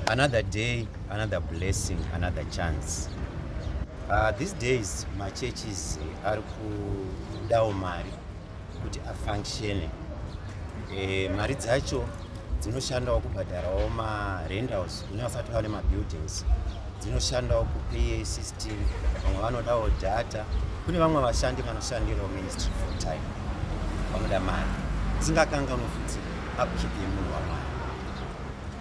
Another day, another blessing, another chance. Uh, these days machurches eh, ari kudawo mari kuti afunctione e, mari dzacho dzinoshandawo kubhadharawo marendals kune vasati vane mabuildings dzinoshandawo kupa system vamwe vanodawo data kune vamwe vashandi vanoshandirawo ministry full time vanoda mari dzingakanganwe futi upkeep yemunhu wamwari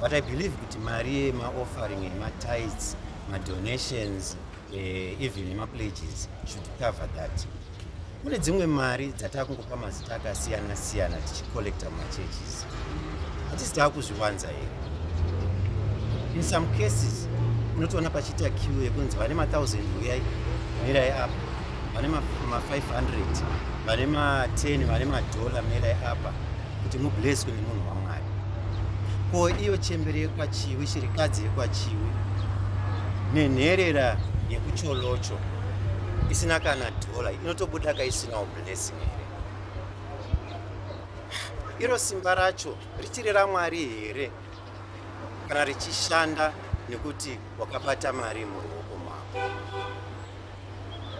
but i believe kuti mari yemaoffering yematides madonations eh, even nemapledges should cover that kune dzimwe mari dzataa kungopa mazita akasiyana siyana tichicollecta mumachurches hatisi taa kuzviwanza here in some cases unotoona pachiita q yekunzi vane mathousand uyai mirai apo vane ma 500 vane ma 10 vane madhola merai apa kuti mubleswe nemunhu wamwari ko iyo chembere yekwachiwi shirikadzi yekwachiwi nenherera yekucholocho isina kana dhola inotobuda ka isinawo blessing here iro simba racho richiri ramwari here kana richishanda nekuti wakabata mari muruoko mako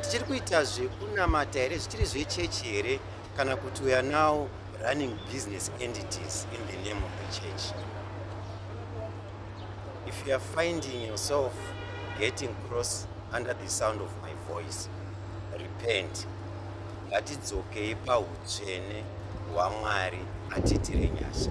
tichiri kuita zvekunamata here zvichiri zvechechi here kana kuti weare now running business entities in the name of the church if youare finding yourself getting cross under the sound of my voice repent ngatidzokei pautsvene hwamwari atiitire nyasha